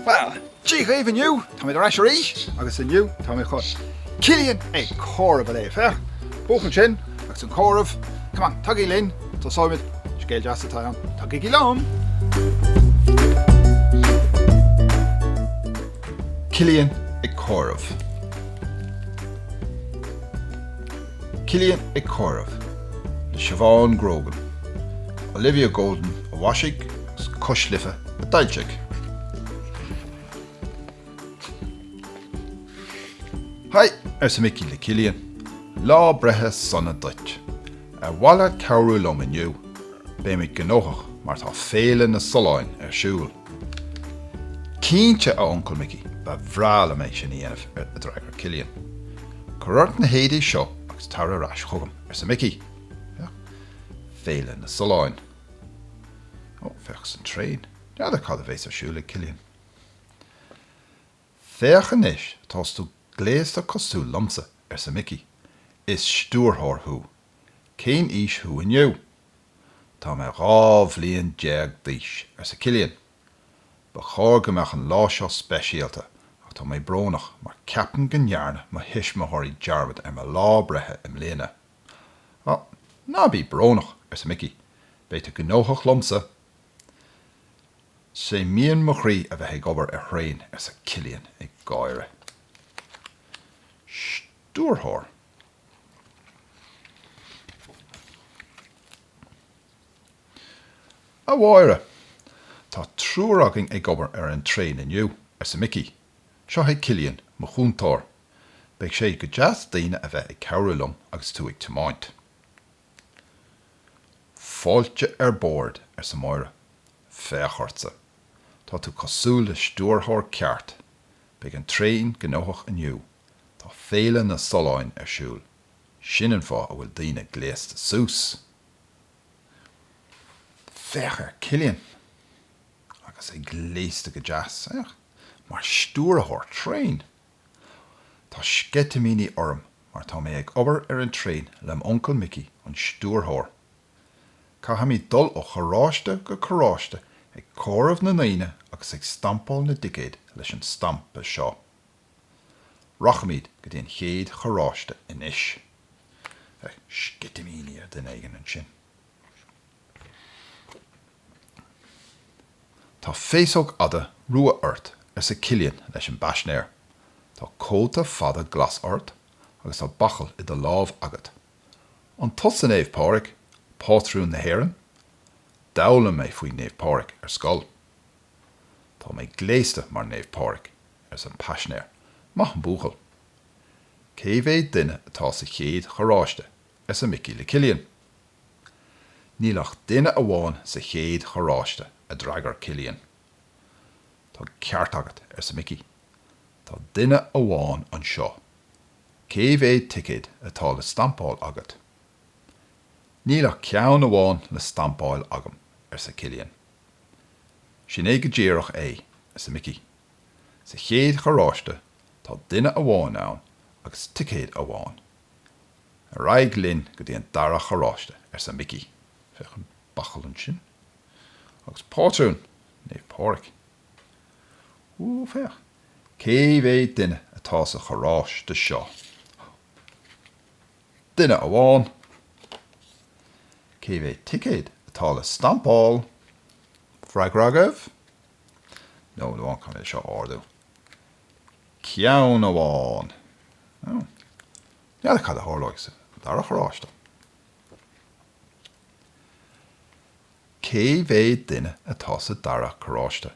Bhuel, Dia dhaoibh inniu, táimid ar ais arís agus inniu táimid chun Cillian ag comhaireamh a léamh, féach, buachaill ansin agus an comhaireamh, come on, tagaigí linn, tosóimid, scéal deas atá ann, tagaigí liom! Cillian ag comhaireamh. Cillian ag comhaireamh le Siobhán Grogan. Olivia Golden a mhaisigh agus Cois Life a d'fhoilsigh. Hi! arsa Micí le Cillian. Lá breithe sona duit! Ar mhaith leat cabhrú liom inniu? Beimid gnóthach mar tá Féile na Solláin ar siúl. Cinnte a Uncail Micí, ba bhreá liom é sin a dhéanamh, a d'fhreagair Cillian. Cuir ort na héadaí seo agus tar ar ais chugam, arsa Micí. Féach, Féile na Solláin. Ó, féach, is an traein. N'fheadar cad a bheas ar siúl ag Cillian. Féach anois, tá tú gléasta cosúil liomsa, arsa Micí. Is stiúrthóir thú. Cén aois thú inniu? Tá mé dhá bhliain déag d'aois, arsa Cillian. Ba chóir go mbeadh an lá seo speisialta ach tá mé brónach mar ceapaim go ndearna mo thuismitheoirí dearmad ar mo lá breithe i mbliana. Á, ná bí brónach, arsa Micí, beidh tú gnóthach liomsa. Is é mian mo chroí a bheith ag obair ar thraein, arsa Cillian ag gáire. Stiúrthóir. A Mháire, tá triúr againn ag obair ar an traein inniu, arsa Micí. Seo chugat Cillian, mo chúntóir. Beidh sé go deas daoine a bheith ag cabhrú liom agus tú ag tiomáint. Fáilte ar bord, arsa Máire. Féach ortsa. Tá tú cosúil le stiúrthóir ceart. Beidh an traein gnóthach inniu. Tá Féile na Solláin ar siúl, sin an fáth a bhfuil daoine gléasta suas. Féach ar Cillian, agus é gléasta go deas, féach, mar stiúrthóir traein! Tá sceitimíní orm mar tá mé ag obair ar an traein le m'uncail Micí, an stiúrthóir. Caithfimid dul ó charráiste go carráiste ag comhaireamh na ndaoine agus ag stampáil na dticéad leis an stampa seo. Rachaimid go dtí an chéad charráiste anois. Sceitimíní ar duine éigin ansin. Tá féasóg fhada rua ort, arsa Cillian leis an bpaisinéir. Tá cóta fada glas ort agus tá bachall i do lámh agat. An tusa Naomh Pádraig, pátrún na hÉireann? D'fhoghlaim mé faoi Naomh Pádraig ar scoil. Tá mé gléasta mar Naomh Pádraig, arsa an paisinéir. Maith an buachaill. Cé mhéad duine atá sa chéad charráiste? arsa Micí le Cillian. Níl ach duine amháin sa chéad charráiste, a d'fhreagair Cillian. Tá an ceart agat, arsa Micí. Tá duine amháin anseo. Cé mhéad ticéad atá le stampáil agat? Níl ach ceann amháin le stampáil agam, arsa Cillian. Sin é go díreach é, arsa Micí. Sa chéad charráiste tá duine amháin ann agus ticéad amháin. Ar aghaidh linn go dtí an dara charráiste, arsa Micí. Féach an bachall ansin. Agus pátrún, Naomh Pádraig. Ó, féach, cé mhéad duine atá sa charráiste seo? Duine amháin. Cé mhéad ticéad atá le stampáil? Freagra agaibh? Nóiméad amháin, caithfidh mé é seo a ardú. Ceann amháin! Ó. N'fheadar cad a tharlóidh sa dara charráiste? Cé mhéad duine atá sa dara carráiste?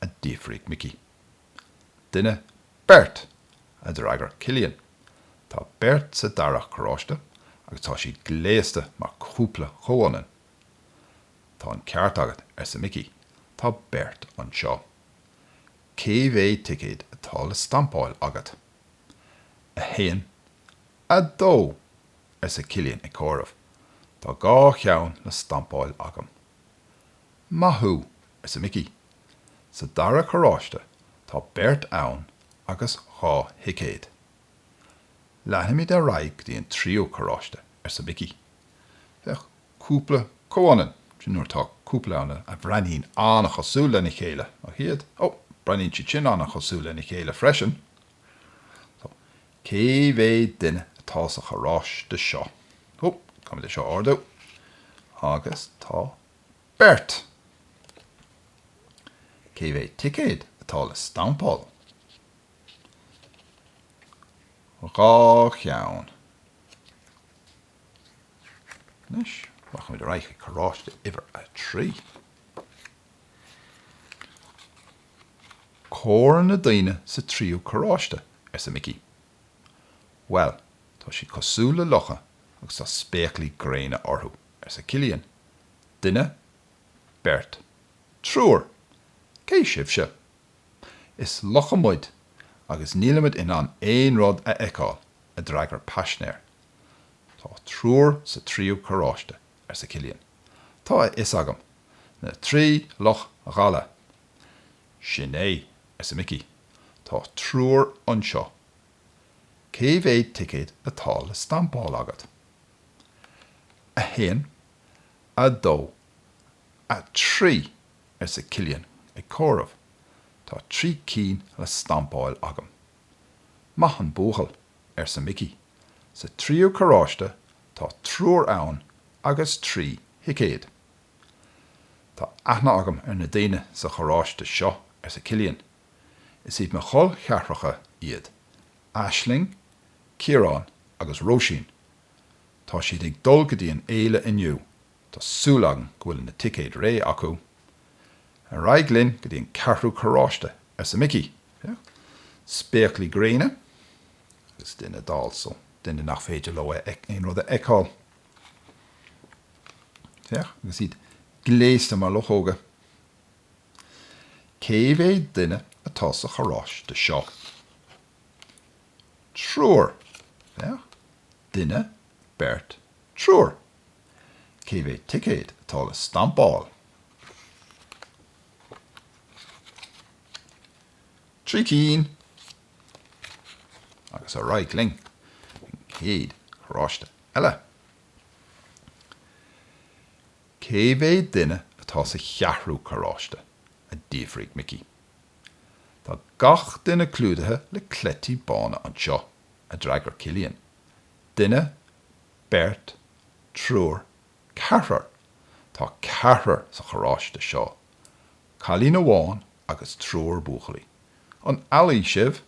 a d'fhiafraigh Mickey. Duine, beirt! a d'fhreagair Cillian. Tá beirt sa dara carráiste agus tá siad gléasta mar cúpla chomhionann. Tá an ceart agat, arsa Mickey, tá beirt anseo. Cé mhéad ticéad atá le stampáil agat? A haon, a dó! arsa Cillian ag comhaireamh. Tá dhá cheann le stampáil agam. Maith thú! arsa Mickey. Sa dara carráiste tá beirt ann agus dhá thicéad. Leanfaimid ar aghaidh go dtí an tríú carráiste, arsa Micí. Féach cúpla comhionann sin nuair atá cúpla ann a bhreathnaíonn an-chosúil lena chéile, nach ea? Ó, breathnaíonn siad sin an-chosúil lena chéile freisin. So, cé mhéad duine atá sa charráiste seo? Ó, caithfidh mé é seo a ardú. Agus tá beirt. Cé mhéad ticéad atá le stampáil? dhá cheann anois. Rachaimid ar aghaidh chuig carráiste uimhir a trí. Comhair na daoine sa tríú carráiste, arsa Micí. Bhuel, tá siad cosúil le lucha agus tá spéaclaí gréine orthu, arsa Cillian. Duine, beirt, triúr. Cé sibhse? Is lucha muid agus nílimid in ann aon rud a fheiceáil, a d'fhreagair paisnéir. Tá triúr sa tríú carráiste, arsa Cillian. Tá a fhios agam. Na trí luch dhalla. Sin é, arsa Micí. Tá triúr anseo. Cé mhéad ticéad atá le stampáil agat? A haon, a dó, a trí. arsa Cillian ag comhaireamh. Tá trí cinn le stampáil agam. Maith an buachaill, arsa Micí. Sa tríú carráiste tá triúr ann agus trí thicéad. Tá aithne agam ar na daoine sa charráiste seo, arsa Cillian. Is iad mo chol cheathracha iad, Aisling, Ciarán agus Róisín. Tá siad ag dul go dtí an fhéile inniu Tá súil agam go bhfuil na ticéid réidh acu. Ar aghaidh linn go dtí an ceathrú carráiste, arsa Micí. Féach, spéaclaí gréine agus duine dall, so duine nach féidir leo aon rud a fheiceáil. Féach, agus iad gléasta mar luchóga. Cé mhéad duine atá sa charráiste seo? Triúr. Féach, duine, beirt, triúr. Cé mhéad ticéad atá le stampáil? Trí cinn! Agus ar aghaidh linn chuig an gcéad charráiste eile. Cé mhéad duine atá sa cheathrú carráiste? a d'fhiafraigh Micí. Tá gach duine clúdaithe le cleití bána anseo, a d'fhreagair Cillian. Duine beirt, triúr, ceathrar, tá ceathrar sa charráiste seo, cailín amháin agus triúr buachaillí. An ealaí sibh?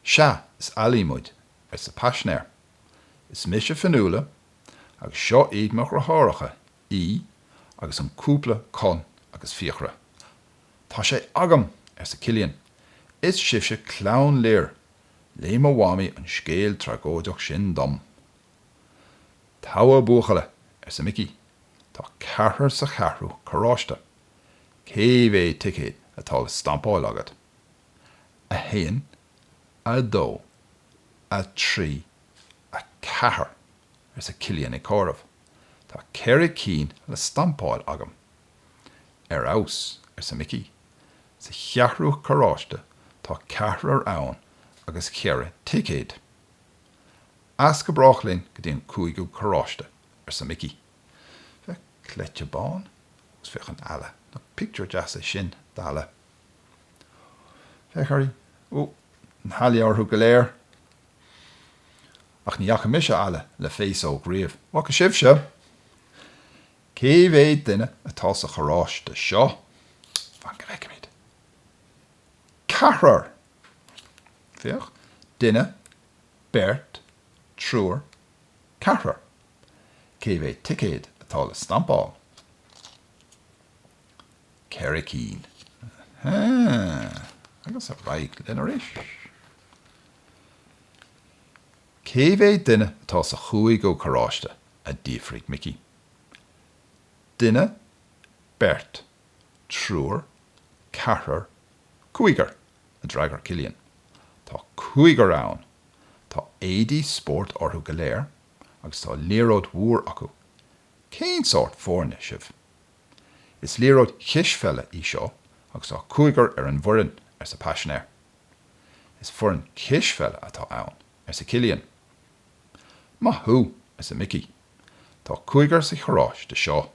Sea, is ealaí muid, arsa paisinéir. Is mise Fionnuala agus seo iad mo dheartháireacha, Aodh agus an cúpla Conn agus Fiachra. Tá sé agam! arsa Cillian. Is sibhse Clann Lir, Léigh mo mhamaí an scéal tragóideach sin dom. Togha buachalla, arsa Micí, tá ceathrar sa cheathrú carráiste. Cé mhéid ticéad atá le stampáil agat? A haon, a dó, a trí, a ceathair, arsa Cillian ag comhaireamh. Tá ceithre cinn le stampáil agam. Ar fheabhas, arsa Mickey. Sa cheathrú carráiste tá ceathrar ann agus ceithre thicéad. As go brách linn go dtí an cúigiú carráiste, arsa Mickey. Féach cleite bán agus féach an eala. Nach pictiúr deas é sin d'eala. Féach uirthi. Ó, na healaí orthu go léir. Ach ní fhaca mise eala le féasóg riamh. An bhfaca sibhse? Cé mhéad duine atá sa charráiste seo? Fan go bhfeicimid. Ceathrar! Féach, duine, beirt, triúr, ceathrar. Cé mhéad ticéad atá le stampáil? Ceithre cinn. Ahem. Agus ar aghaidh linn arís. Cé mhéad duine atá sa chúigiú carráiste? a d'fhiafraigh Micí. Duine, beirt, triúr, ceathrar, cúigear, a d'fhreagair Cillian. Tá cúigear ann. Tá éadaí spóirt orthu go léir agus tá liathróid mhór acu. Cén sórt foirne sibh? Is liathróid cispheile í seo agus tá cúigear ar an bhfoireann, arsa paisinéir. Is foireann cispheile atá ann, arsa Cillian. Maith thú, arsa Micí. Tá cúigear sa charráiste seo,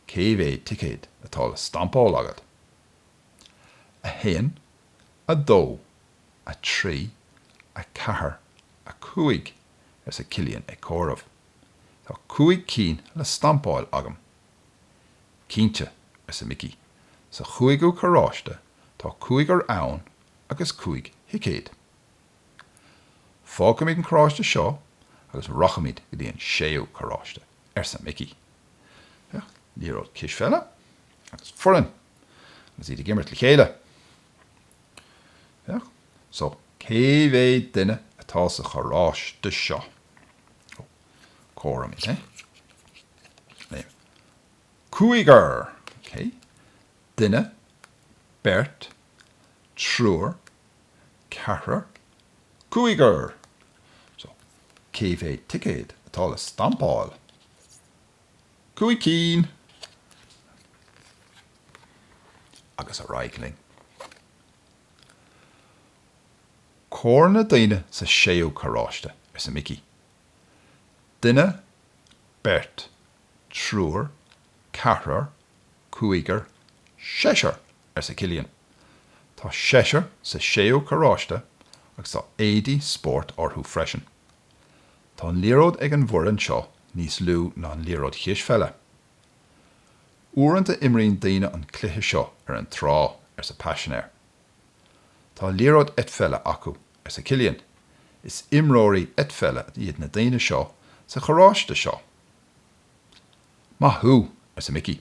cé mhéad ticéad atá le stampáil agat? 1 2 3 4 5 arsa Cillian ag comhaireamh. Tá cúig cinn le stampáil agam. Cinnte, arsa Micí, sa chúigiú carráiste tá cúigear ann agus cúig thicéad. Fágfaimid an carráiste seo agus rachaimid go dtí an séú carráiste, arsa Micí. Féach liathróid cispheile agus foireann agus iad ag imirt le chéile. Féach so cé mhéad duine atá sa charráiste seo. Ó, comhairigí é liom. Cúigear! OK. Duine, beirt, triúr, ceathrar, cúigear! So, cé mhéad ticéad atá le stampáil? Cúig cinn! Agus ar aghaidh linn. Comhair na daoine sa séú carráiste, arsa Mickey. Duine, beirt, triúr, ceathrar, cúigear, seisear! arsa Cillian. Tá seisear sa séú carráiste agus tá éadaí spóirt orthu freisin. Tá an liathróid ag an bhfoireann seo níos lú ná an liathróid chispheile. Uaireanta imríonn daoine an cluiche seo ar an trá, arsa paisinéir. Tá liathróid eitpheile acu, arsa Cillian. Is imreoirí eitpheile iad na daoine seo sa charráiste seo. Maith thú, arsa Mickey.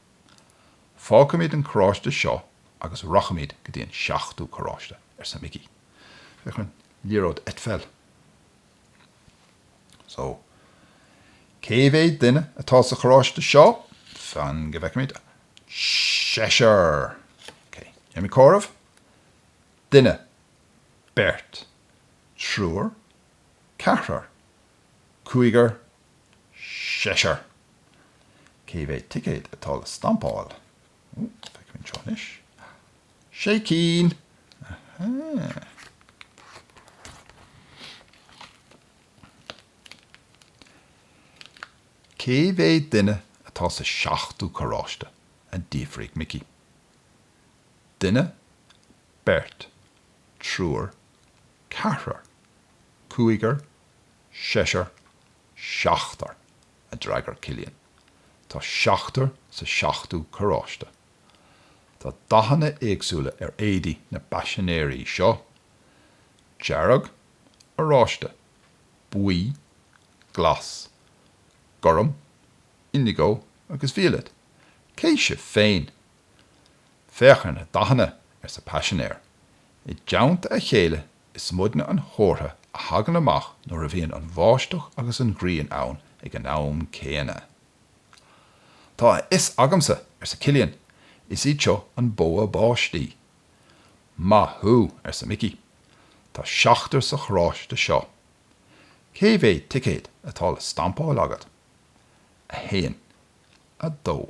Fágfaimid an carráiste seo agus rachaimid go dtí an seachtú carráiste, arsa Mickey. Féach ar an liathróid eitpheile. So, cé mhéad duine atá sa charráiste seo? Fan go bhfeicfimid. Seisear! Ok, déanfaimid comhaireamh. Duine. Beirt. Triúr. Ceathrar. Cúigear. seisear. Cé mhéad ticéad atá le stampáil? Feicfidh mé seo anois. Sé cinn! Cé mhéad duine atá sa seachtú carráiste? a d'fhiafraigh Mickey. Duine, beirt, triúr, ceathrar, cúigear, Seisear, seachtar, a d'fhreagair Cillian. Tá seachtar sa seachtú carráiste. Tá dathanna éagsúla ar éadaí na paisinéirí seo, dearg, oráiste, buí, glas, gorm, indigo agus violet. Cé sibh féin? Féach ar na dathanna, arsa paisinéir. I dteannta a chéile Is muidne an chomhartha a thagann amach nuair a bhíonn an bháisteach agus an ghrian ann ag an am céanna. Tá a fhios agamsa, arsa Cillian, is iad seo an bogha báistí. Maith thú, arsa Mickey. Tá seachtar sa charráiste seo. Cé mhéad ticéad atá le stampáil agat? A haon. A dó.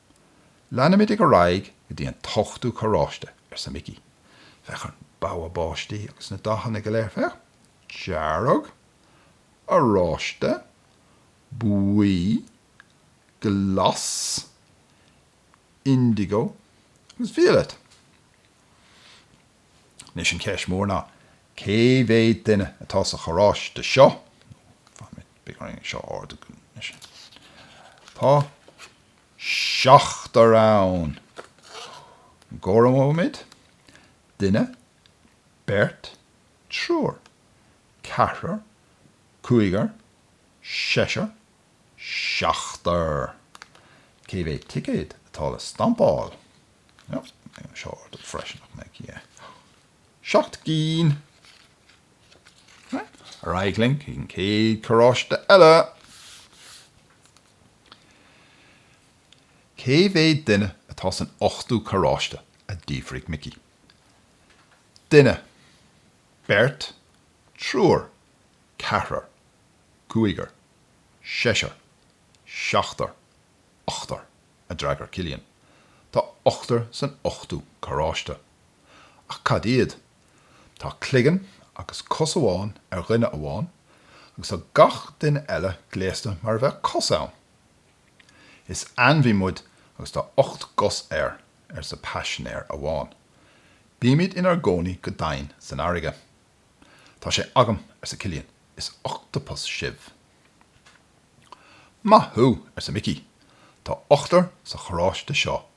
Leanfaimid ar aghaidh go dtí an t-ochtú carráiste, arsa Mickey. Féach ar an bogha báistí agus na dathanna go léir, féach. Dearg. Oráiste. Buí. Glas. Indigo. Agus violet. Anois an cheist mhór ná, cé mhéad duine atá sa charráiste seo? Tá. seachtar ann. Comhairimid duine, beirt, triúr, ceathrar, cúigear, seisear, seachtar. Cé mhéad ticéad atá le stampáil? Seo ordú freisin ach mhéad ceann é. Seacht gcinn! Ar aghaidh linn chuig an chéad charráiste eile! Cé mhéad duine atá san ochtú carráiste? a d'fhiafraigh Mickey. Duine. Beirt. Triúr. Ceathrar. Cúigear. Seisear. Seachtar. Ochtar, a d'fhreagair Cillian. Tá ochtar san ochtú carráiste. Ach cad iad? Tá cloigeann agus cos amháin ar dhuine amháin agus tá gach duine eile gléasta mar a bheadh cos ann. Is ainmhí muid agus tá ocht gcos air, arsa paisinéir amháin. Bímid inár gcónaí go domhain san fharraige. Tá sé agam, arsa Cillian, is ochtapas sibh. Maith thú, arsa Mickey, tá ochtar sa charráiste seo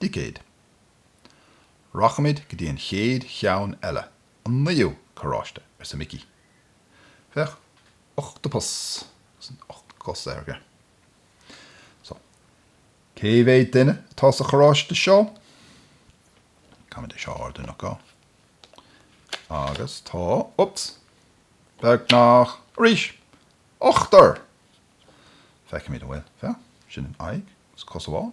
dticéid. Rachaimid go dtí an chéad cheann eile, an naoú carráiste, arsa Mickey. Féach, ochtapas agus na hocht gcos aige. So, cé mhéad duine atá sa charráiste seo? Caithfimid é seo a ardú, nach gá? Agus tá, oops, beagnach, arís! Ochtar! Feicfimid an bhfuil, féach, sin an aghaidh agus cos amháin.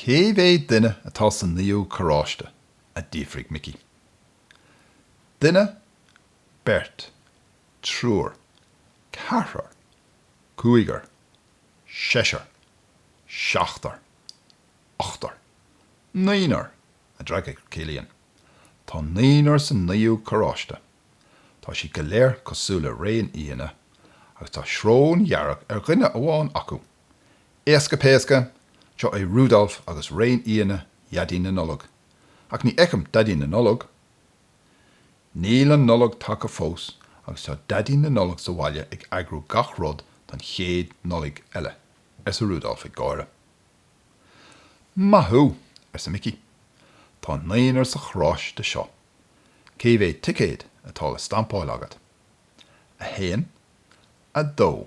Cé mhéad duine atá sa naoú carráiste? a d'fhiafraigh Mickey. Duine, beirt, triúr, ceathrar, cúigear, seisear, seachtar, ochtar, naonúr, a d'fhreagair Cillian. Tá naonúr sa naoú carráiste. Tá siad go léir cosúil le réinfhianna agus tá srón dhearg ar dhuine amháin acu. Éasca péasca, seo é Rudolf agus réinfhianna Dhaidí na Nollag. Ach ní fheicim Daidí na Nollag. Níl an Nollaig tagtha fós agus tá Daidí na Nollag sa bhaile ag eagrú gach rud don chéad Nollaig eile, arsa Rudolf ag gáire. Maith thú! arsa Micí. Tá naonúr sa charráiste seo. Cé mhéad ticéad atá le stampáil agat? A haon? A dó?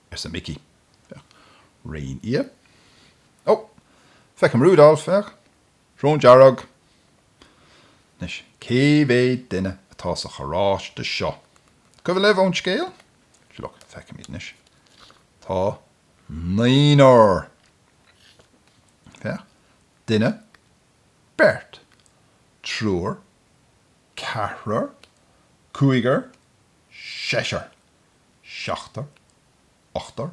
arsa Mickey. Féach. Réin fhia. Ó! Feicim Rudolf, féach. Srón dearg. Anois, cé mhéad duine atá sa charráiste seo? Cuimhin libh ón scéal? Sea, look, feicim iad anois. Tá naonúr. Féach. Duine. Beirt. Triúr. Ceathrar. Cúigear. Seisear. seachtar, ochtar,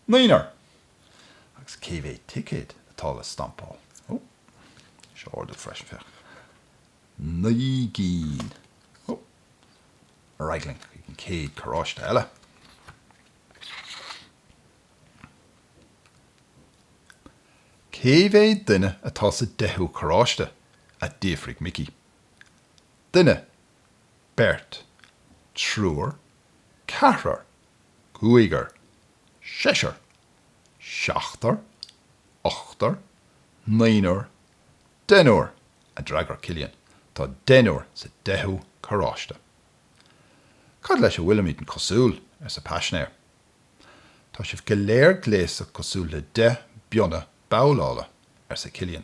naonúr. Agus cé mhéad ticéad atá le stampáil? Ó, seo Orla freisin, féach. Naoi gcinn. Ó, ar aghaidh linn chuig an chéad carráiste eile. Cé mhéad duine atá sa deichiú carráiste? a d'fhiafraigh Mickey. Duine, beirt, triúr, ceathrar, cúigear, seisear, seachtar, ochtar, naonúr, deichniúr a d'fhreagair Cillian, tá deichniúr sa deichiú carráiste. Cad leis a bhfuilimidne cosúil? arsa paisinéir. Tá sibh go léir gléasta cosúil le deich bpionna babhlála, arsa Cillian.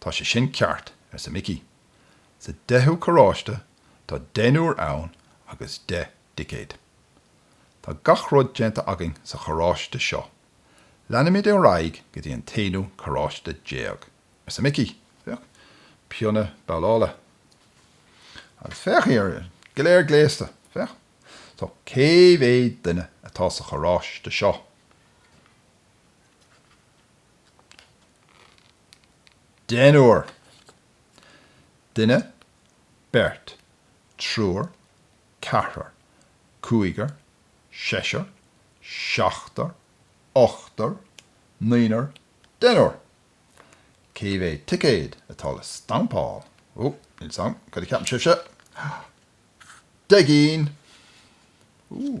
Tá sé sin ceart, arsa Mickey. Sa deichiú carráiste tá deichniúr ann agus deich dticéad. Tá gach rud déanta againn sa charráiste seo. Leanfaimid ar aghaidh go dtí an t-aonú carráiste déag, arsa Mickey. Féach, pionna babhlála. Agus féach, iad go léir gléasta. Féach. So, cé mhéad duine atá sa charráiste seo? Deichniúr, duine, beirt, triúr, ceathrar, cúigear, seisear, seachtar, ochtar, naonúr, deichniúr. Cé mhéad ticéad atá le stampáil? Ó, níl a fhios agam, cad a ceapann sibhse? Deich gcinn! Úúú!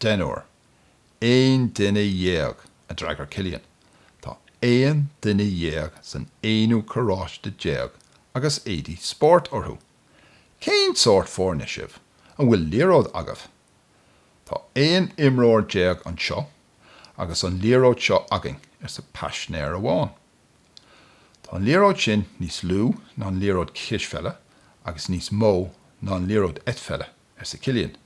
Deichniúr. Aon duine dhéag, a d'fhreagair Cillian. Tá aon duine dhéag san aonú carráiste déag agus éadaí spóirt orthu. Cén sórt foirne sibh? An bhfuil liathróid agaibh? Tá aon imreoir déag anseo agus an liathróid seo againn, arsa paisnéir amháin. Tá an liathróid sin níos lú ná an liathróid cispheile agus níos mó ná an liathróid eitpheile, arsa Cillian.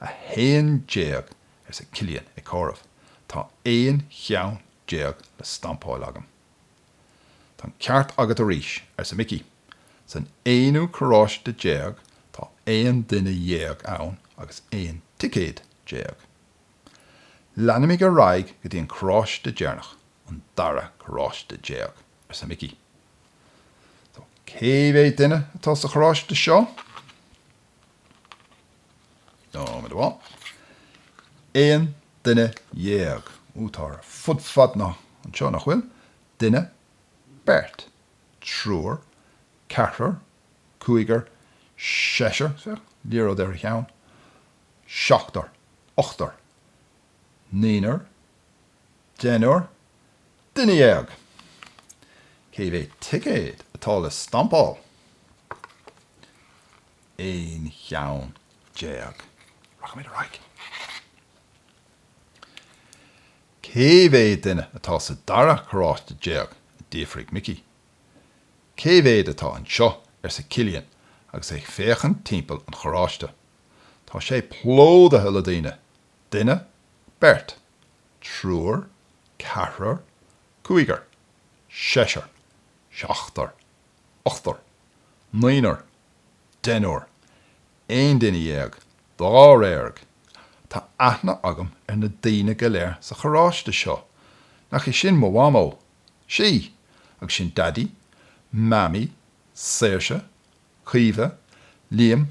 A haon déag! arsa Cillian ag comhaireamh. Tá aon cheann déag le stampáil agam. Tá an ceart agat arís! arsa Mickey. San aonú carráiste déag tá aon duine dhéag ann agus aon ticéad déag. Leanfaimid ar aghaidh go dtí an carráiste deireanach, an dara carráiste déag! arsa Mickey. Cé mhéad duine atá sa charráiste seo? nóiméad amháin. Aon duine dhéag. Ó tá ar fud fad na háite anseo nach bhfuil? Duine, beirt, triúr, ceathrar, cúigear, seisear, féach, liathróid ar a cheann, seachtar, ochtar, naonúr, Deichniúr? Duine dhéag! Cé mhéad ticéad atá le stampáil? Aon cheann déag. Rachaimid ar aghaidh. Cé mhéad duine atá sa dara carráiste déag? a d'fhiafraigh Mickey. Cé mhéad atá anseo? arsa Cillian agus é ag féachaint timpeall an charráiste. Tá sé plódaithe le daoine! Duine, beirt, triúr, ceathrar, cúigear, seisear, seachtar, ochtar, naonúr, deichniúr, aon duine dhéag, dáréag. Tá aithne agam ar na daoine go léir sa charráiste seo. Nach í sin mo mhamó? Is í! Agus sin Daidí, Mamaí, Saoirse, Caoimhe, Liam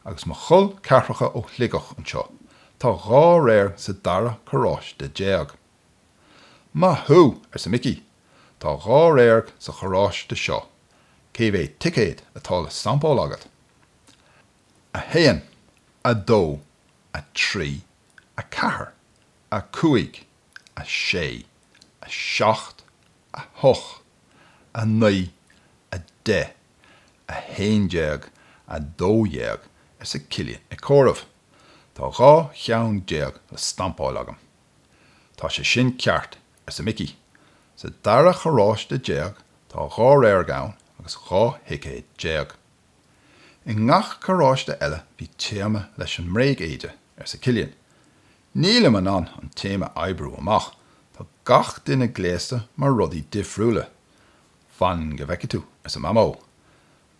agus mo chol ceathracha ó Shligeach anseo, tá dháréag sa dara carráiste déag. Maith thú! arsa Mickey, tá dháréag sa charráiste seo, cé mhéad ticéad atá le stampáil agat? A haon, a dó, a trí, a ceathair, a cúig, a sé, a seacht, a hocht, a naoi, a deich. 11, 12 arsa Cillian ag comhaireamh. Tá dhá cheann déag le stampáil agam. Tá sé sin ceart, arsa Mickey. Sa dara charráiste déag tá dháréag ann agus dhá thicéad déag. I ngach carráiste eile bhí téama leis an mbréigéide, arsa Cillian. Nílim in ann an téama a oibriú amach, tá gach duine gléasta mar rudaí difriúla. Fan go bhfeice tú, arsa Mamó,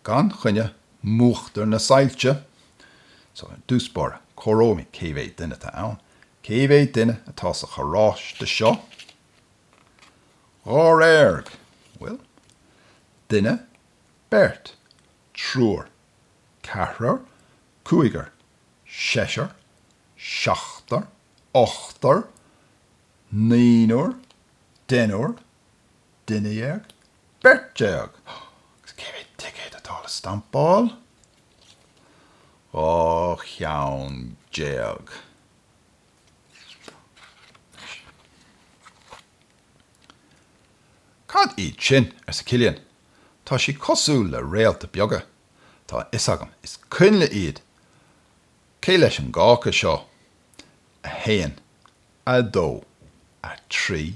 gan choinne múchtar na soilse. So, ar dtús báire, comhaireoidh mé cé mhéad duine atá ann. Cé mhéad duine atá sa charráiste seo? Dháréag, bhuel? Duine, beirt, triúr, ceathrar, cúigear, seisear, seachtar, ochtar, naonúr, deichniúr, duine déag, beirt déag, agus cé mhéad ticéad atá le stampáil? Dhá cheann déag. Cad iad sin? arsa Cillian. Tá siad cosúil le réalta beaga. Tá a fhios agam, is coinnle iad. Cé leis an gcáca seo? A haon, a dó, a trí,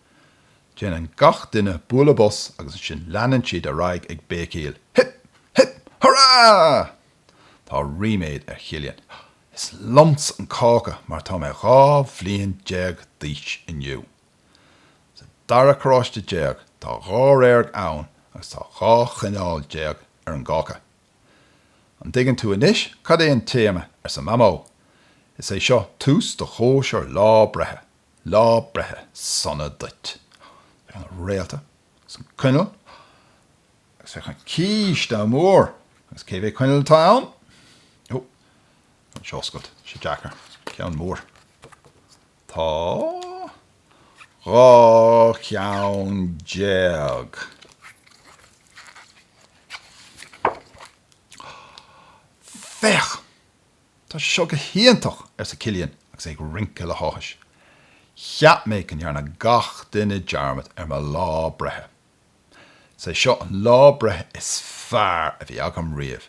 Déanann gach duine bualadh bos agus ansin leanann siad ar aghaidh ag béicíl Hip! Hip! Hurá! Tá ríméad ar Chillian, Is liomsa an cáca mar tá mé dhá bhliain déag d'aois inniu! Sa dara carráiste déag tá dháréag ann agus tá dhá choinneal déag ar an gcáca. An dtuigeann tú anois cad é an téama? arsa Mamó. Is é seo tús do chóisir lá breithe! Lá breithe sona duit. Féach na réalta agus an coinneal agus féach an císte mór agus cé mhéad coinneal atá ann? Ó, tá sé oscailte, tá sé deacair. Ceann mór. Tá dhá cheann déag. Féach! 'Tá seo go hiontach! arsa Cillian agus é ag rince le háthas. 'Cheap mé go ndearna gach duine dearmad ar mo lá breithe. Is é seo an lá breithe is fearr a bhí agam riamh.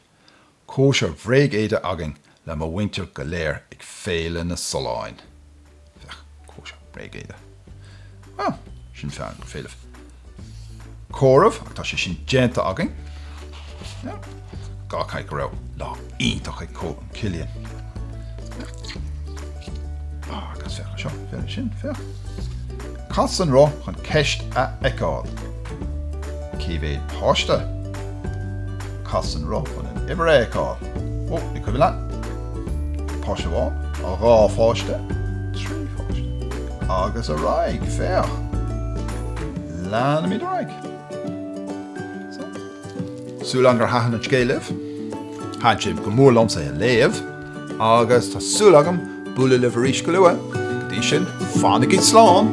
Cóisir bhréigéide againn le mo mhuintir go léir ag Féile na Solláin. Féach, cóisir bhréigéide. Á, sin fearr go féilimh. Comhaireamh, ach tá sé sin déanta againn. Féach, dhá chaith go raibh lá iontach ag Cóil an Chillian. Féach, agus féach seo, féach sin, féach. Cas an roth chun ceist a fheiceáil. Cé mhéad páiste? Cas an roth chun an uimhir a fheiceáil. Ó, an cuimhin leat? Páiste amháin, dhá pháiste, trí pháiste, agus ar aghaidh, féach. Leanaimid ar aghaidh. Súil agam gur thaitin an scéal libh. Thaitin go mór liomsa é a léamh. Agus tá súil agam bualadh libh arís go luath, go dtí sin, fanaigí slán!